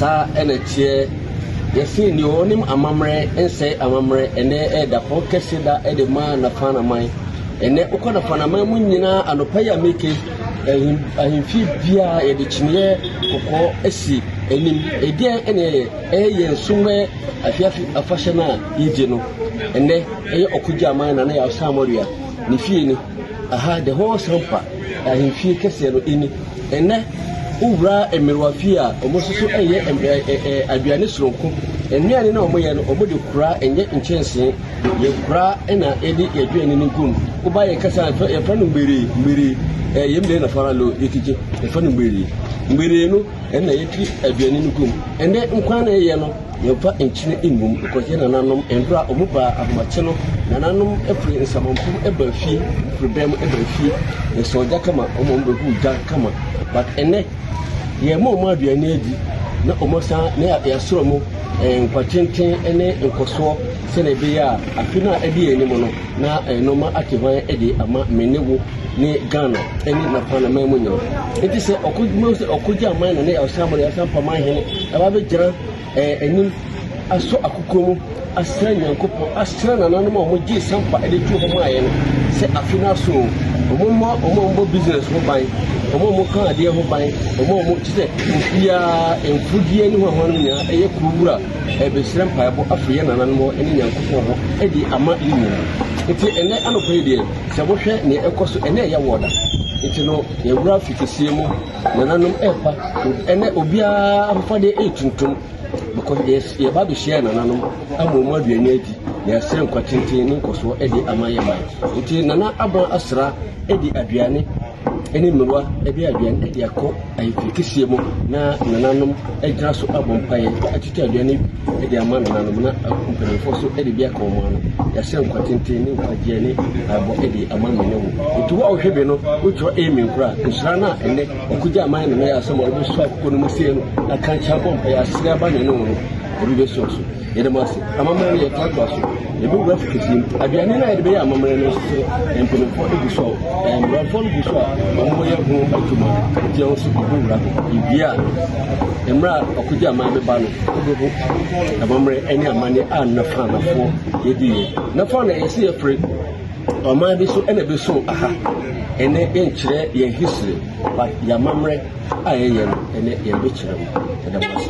Saa na ɛteɛ. Yɛse nea ɔnim amammerɛ nsɛe amammerɛ. Ɛnɛ ɛyɛ dapɔn kɛse da de ma Nafanaman. Ɛnɛ wokɔ Nafanaman mu nyinaa anɔpa yi a meke ahemfie biara yɛde kyiniiɛ kɔkɔɔ asi anim. Ɛdeɛn ɛna ɛyɛ? Ɛyɛ yɛn sumɛ afiafi afahyɛ no a yɛgye no. Ɛnɛ ɛyɛ ɔkogya aman na na yɛ asamɔdua ne fie ni. Aha the whole Srempa ahemfie kɛseɛ no ni. Ɛnnɛ wo wura mmerewa fie a wɔn nso so ɛyɛ aduane soronko. Nnuane no a wɔyɛ no wɔn de kura ɛnyɛ nkyɛnsee. Yɛ kura ɛna yɛde yɛ aduane no gum. Wo ba yɛ kɛse a yɛfrɛ no mmeree mmeree ɛyɛ mmeree na fara lo yɛ kigye yɛfrɛ no mmeree mmeree no. ɛna yɛdi aduane no gum ɛnɛ nkwan na ɛyɛ no yɛmfa nkyene ngum ɛkɔyɛ nananom mmerɛ a wɔn baa ahomakye no nananom ɛfiri nsamanfom ɛbaa fie firi bɛn mu ɛbaa fie yɛsɛ ɔgya kama wɔn wɔn bɛhu gya kama but ɛnɛ yɛma wɔn aduane adi na wɔn san na yɛasoro mo nkwatenten ne nkɔsoɔ sɛdeɛ ɛbɛyɛ a afe no a ɛde yɛn anim no na nneɛma ate hwan de ama me ne wo ne Ghana ne Napana man mu nyam. Enti sɛ ɔko mu sɛ ɔkogye aman na ne ɔsan mo ɔsan pa man hene ɛba bɛgyina ɛɛ anim asɔ akoko mu asra Nyankopɔn asra nananom a wɔn gye sampa de tu hɔ maa yɛn no sɛ afe no aso wɔn mma wɔn a wɔbɔ business ho ban wɔn a wɔka adeɛ ho ban wɔn a wɔn ti sɛ obiara mfudeɛ ne ho ahoa no nyinaa ɛyɛ kuro wura ɛbɛsrɛ mpaebɔ afiri yɛn nananom hɔ ne Nyankopɔn hɔ ɛde ama yɛn nyinaa nti ɛnɛ anɔpɛ yi deɛ Sɛ mohwɛ nea ɛkɔ so ɛnnɛ ɛyɛ ward a nti no yɛwura fi kɛseɛ mu nananom ɛɛpa ɛnɛ obiara ahofadeɛ ɛɛtuntum because yɛba abɛhyia nananom ama ɔmu aduane adi na yɛasrɛ nkwa tenten ne nkɔsoɔ ɛde ama yɛ man nti nana aba asra ɛde aduane ne mmerewa de aduan de akɔ ayeforohyia mu na nananom gyina so abɔ mpaeɛ akyekye aduan no bi de ama nananom na mpanimfoɔ nso de bi aka wɔn ano. Yɛahyɛ nkwa tenten ne nkwagyeɛ ne abɔ de ama me ne wo. Nti wo a wohwɛ bi no, wotwerɛ amen kora a, nhyira no a ɛnɛ ɔkogya aman ne mɛyɛ asɛm a wɔbɛsu akokɔ no mu sie no aka nkyɛ abɔ mpaeɛ asere aba ne ne wo no, ebi bɛsɔ so. Yɛda mo ase. Amammerɛ no yɛtoatoa so. Yɛbɛwura fukufie mu. Aduane no a yɛde bɛyɛ amammerɛ no nso mpanyinfoɔ gu so a mmeranfoɔ no gu so a wɔyɛ ho adwuma. Nti ɛho nso yɛbɛwura ho. Yɛwie a mmerɛ a ɔkogye aman bɛba no wobɛhu amammerɛ ne amane a nafaanafoɔ yɛdiiɛ. Nafa na ɛyɛ sɛ yɛfiri ɔman bi so ɛna ɛbɛso aha. Ɛnɛ yɛnkyerɛ yɛn history but yɛn amammerɛ a yɛyɛ no ɛnɛ yɛde bɛkyerɛ mu. Yɛda mo ase.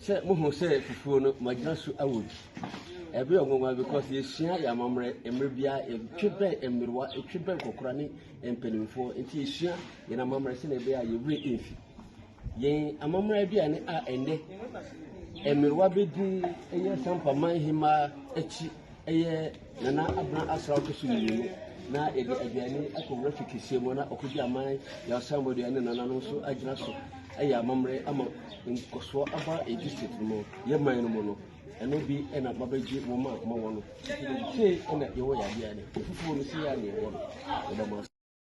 Sɛ mohu sɛ fufuo no mo agyina so awo bi. Ɛbɛ yɛ ɔnwanwa because yɛsua yɛ amammerɛ mmerɛ biara yɛtwe bɛn mmerewa yɛtwe bɛn nkɔkora ne mpanimfoɔ nti yɛsua yɛn amammerɛ sɛ na ɛbɛyɛ a yɛwerɛ ɛmfi yɛn amammerɛ bi a ne a ɛnɛ mmerewa bɛdi ɛyɛ sampa man hemaa akyi Ɛyɛ Nana Abena Asra Ɔtɔso Mmienu na yɛde aduane akɔ wura fi kɛseɛ mu na ɔkɔgye aman yɛ asanbɔdeɛ ne nananom nso agyina so ɛyɛ amammerɛ ama nkɔsoɔ aba yɛ district no mu yɛ man no mu no ɛno bi ɛna mabɛgye wɔn a mawɔ no sɛ ɛna yɛwɔ yɛ adeɛ ne ɛfufuo no sɛ yɛ a ne yɛwɔ no ɛda mo ase